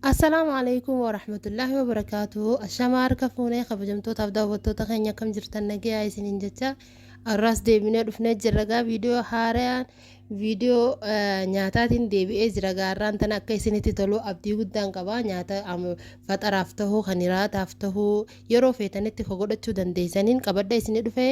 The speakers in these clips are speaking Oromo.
Assalaamu alaikum wa rahmatullahi wa barakaatuhu. Ashamaa harka fuunee kabajamtootaaf daawwattoota keenya akkam jirtan nagayaa isiniin jecha arraas deebinee dhufnee jirra gaa viidiyoo haarayaan viidiyoo eh, nyaataatiin deebi'ee jira gaa harraan tana akka isinitti tolu abdii guddaan qaba nyaata am- faxaraaf tahuu kan hiraataaf tahuu yeroo feetanitti ka godhachuu dandeessaniin qabadha isinii dhufee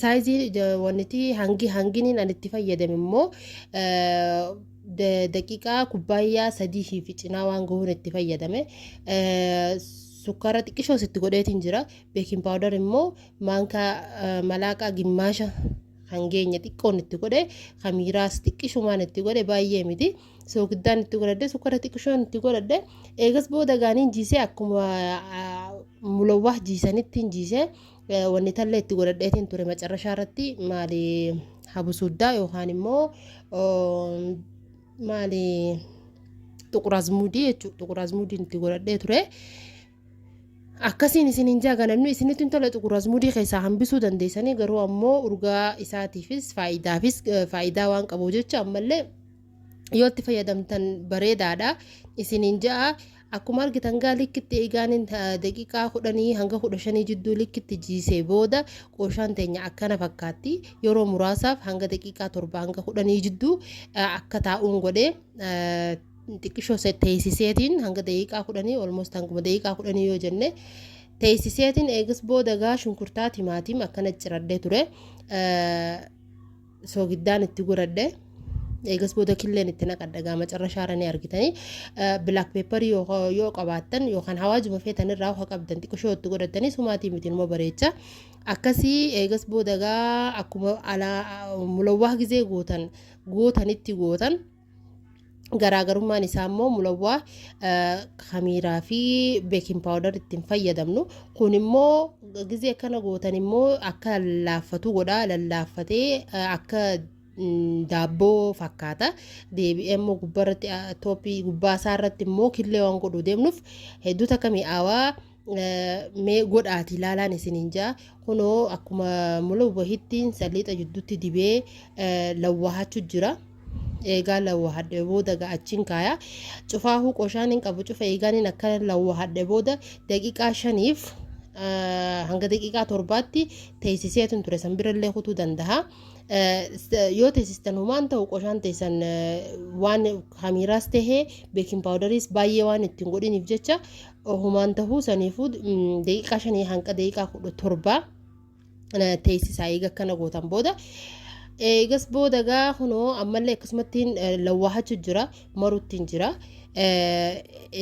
Saayizii wanti hangi hanginiin an itti fayyadame immoo daqiiqaa kubbaayyaa sadii fi cinaa waan gahuun itti fayyadame. Sukkaara xiqqishoos itti godheetiin jira. Beekin paawudar immoo maankaa malaaqaa gimmaasha kan geenye xiqqoon itti godhe kan miiraas xiqqishumaan itti godhe baay'ee miti. soogiddaan itti godhadhe sukkara xiqqishoon itti godhadhe eegas booda gaaniin jiisee akkuma mulawwaa jiisanittiin jiisee wanni tallee itti godhadheetiin ture macarrashaa irratti maali habusuddaa yookaan immoo maali xuquraazmuudii jechuudha xuquraazmuudiin itti godhadhee ture. Akkasiin isin hin jaa ganannu isinitti hin tola xuqur azmudii keessaa hambisuu dandeessanii garuu ammoo urgaa isaatiifis faayidaafis faayidaa waan qabu jecha ammallee yoo itti fayyadamtan bareedaadha isin hin ja'a akkuma argitan gaa likkitti eegaanin daqiiqaa kudhanii hanga kudha shanii jidduu likkitti jiisee booda qooshaan teenya akkana fakkaatti yeroo muraasaaf hanga daqiiqaa torba hanga kudhanii jidduu akka taa'uun godhee xiqqishoo se- teeysiseetiin hanga daqiiqaa kudhanii olmost hanguma daqiiqaa kudhanii yoo jenne teeysiseetiin eegas booda gaa shunkurtaa timaatim akkana ciradhee ture Eh, soogiddaan itti godhadhe eegas booda killeen itti naqadha gaa macarrashaara ni argitanii bilaak peeparii yoo qabaattan yookaan hawaajuma feetan irraa hoha qabdan xiqqishoo itti godhattanii sumaatii miti numa bareecha akkasii eegas booda gaa akkuma alaa mulawwaa gizee gootan gootanitti gootan garaagarummaan isaa immoo mulawwaa kamiiraa fi beekin paawudar ittiin fayyadamnu kun immoo gizee akkana gootan immoo akka laaffatu godha lallaaffatee akka daabboo fakkaata deebi'ee immoo gubbaarratti tooppii gubbaa isaa irratti immoo killee waan godhu deemnuuf hedduu takka mi'aawaa mee godhaati ilaalaan isiniin jaa kunoo akkuma mulawwahittiin saliixa jidduutti dibee lawwahachu jira eegaa lawwahadhe booda ga'achiin kaaya cufaahuu qoshaan hin qabu cufa eegaaniin akka lawwahadhe booda daqiiqaa shaniif hanga daqiiqaa torbaatti teessiseetun ture san birallee kutuu danda'a. yoo teessistan humaan ta'u qoshaan teessan waan hamiiraas tahee beekin paawudariis baay'ee waan ittiin godhiniif jecha Ohumaan tahuu saniifuu daqiiqaa shanii hanga daqiiqaa kudha torbaa teessisaa eega akkana gootan booda eegas booda gaa kunoo ammallee akkasumatti lawwaahachu jira maruttiin jira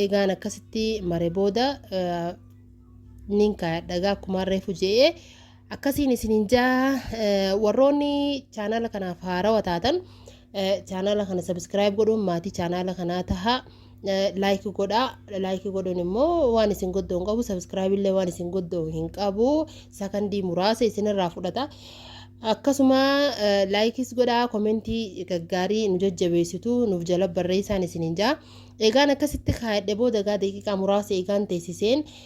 eegaan akkasitti mare booda nin kaayadha gaa akkumaan reefu je'ee Akkasiin isiniin jaa warroonni chaanaala kanaaf haarawa taatan chaanaala kana sabiskiraayib godhuun maatii chaanaala kanaa taha laayiki godhaa laayiki godhuun immoo waan isin goddoo hin qabu sabiskiraayib illee waan isin goddoo hin qabu sakandii muraasa isinirraa fudhata. Akkasuma laayikis godhaa komentii gaggaarii nu jajjabeessitu nuuf jala barreessaan isiniin jaa. Egaan akkasitti kaayadhe booda egaa daqiiqaa muraasa egaan teessiseen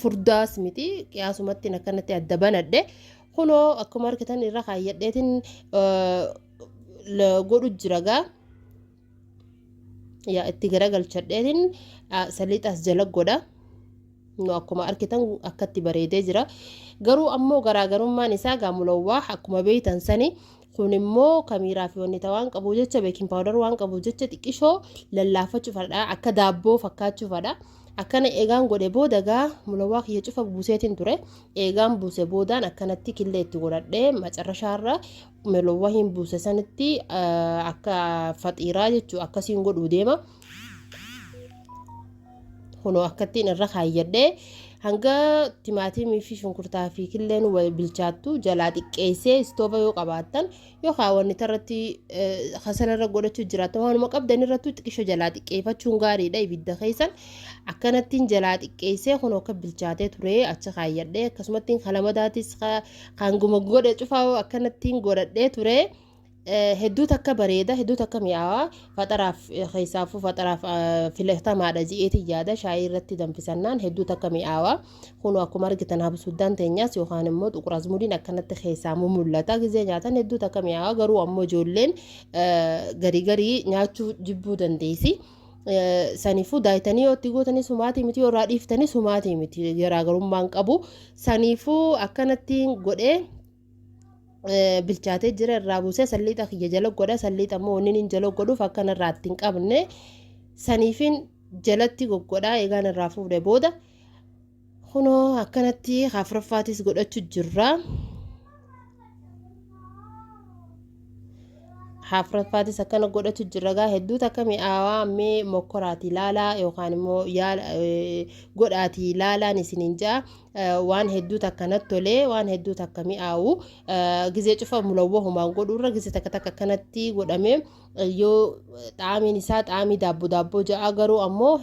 furdaas miti qiyaasumatti akkanatti adda banadhe kunoo akkuma argitan irra kaayyadheetiin godhu jira gaa yaa itti garagalchadheetiin saliixaas jala godha nu akkuma argitan akkatti bareedee jira garuu ammoo garaagarummaan isaa gaa mulawwaa akkuma beeytan sani Kun immoo kamiiraa fi wanni waan qabu jecha beekin paawudar waan qabu jecha xiqqishoo lallaafachuufadha akka daabboo fakkaachuufadha. Akkana eegaan godhe booda gaa mulawaa kiyya cufa buuseetiin ture eegaan buuse boodaan akkanatti killee itti godhadhee macarrashaarra mulawaa hin buuse sanitti akka faxiiraa jechuun akkasiin godhuu deema. kunoo akkattiin irra kaayyadhee hanga timaatimii fi shunkurtaa fi killeen wal bilchaattu jalaa xiqqeessee istooba yoo qabaattan yookaan wanni irratti kasala irra godhachuu jiraatan waanuma qabdan irrattuu xiqqisho jalaa xiqqeeffachuun gaariidha ibidda keessan akkanattiin jalaa xiqqeessee kunoo akka bilchaatee ture achi kaayyadhee akkasumattiin kalamadaatis kan guma godhe cufaa akkanattiin godhadhee ture. hedduu takka bareeda hedduu takka mi'aawa faxaraaf keessaafuu faxaraaf filatamaadha ji'eetiin yaada shaayii irratti danfisannaan hedduu takka mi'aawa kunoo akkuma argitan habsuuddaan teenyaas yookaan immoo xuquraazmudiin akkanatti keessaamuu mul'ata gizee nyaatan hedduu takka mi'aawa garuu ammoo ijoolleen garii garii nyaachuu jibbuu dandeessi. Saniifuu daayitanii yoo itti gootanii sumaatii miti yoo irraa dhiiftanii sumaatii miti garaagarummaan qabu saniifuu akkanatti godhee. bilchaatee jira irraa buusee salliixa kiyya jala godha salliixa immoo wanni inni jala godhuuf akka narraa ittiin qabne saniifin jalatti goggodhaa eegaan irraa fuudhe booda kunoo akkanatti afraffaatis godhachu jirra. afraffaatis akkana godhachu jirra gaa hedduu takka mi'aawaa mee mokkoraati laalaa yookaan immoo godhaati laalaan isiniin ja'a. waan hedduu takka natti tolee waan hedduu takka mi'aawu gizee cufa mulawwa humaan godhuurra gizee takka takka akkanatti godhamee yoo xaamiin isaa xaamii daabbo daabboo ja'a garuu ammoo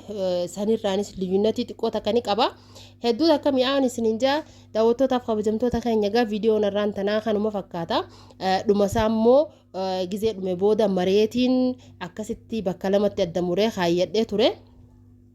sanirraanis liyyunatii xiqqoo takka ni qaba hedduu takka mi'aawun isiniin ja'a daawwattootaaf kabajamtoota keenya egaa viidiyoon irraan tanaa kanuma fakkaata dhumasaa immoo gizee dhume booda mareetiin akkasitti bakka lamatti adda muree kaayyadhee ture.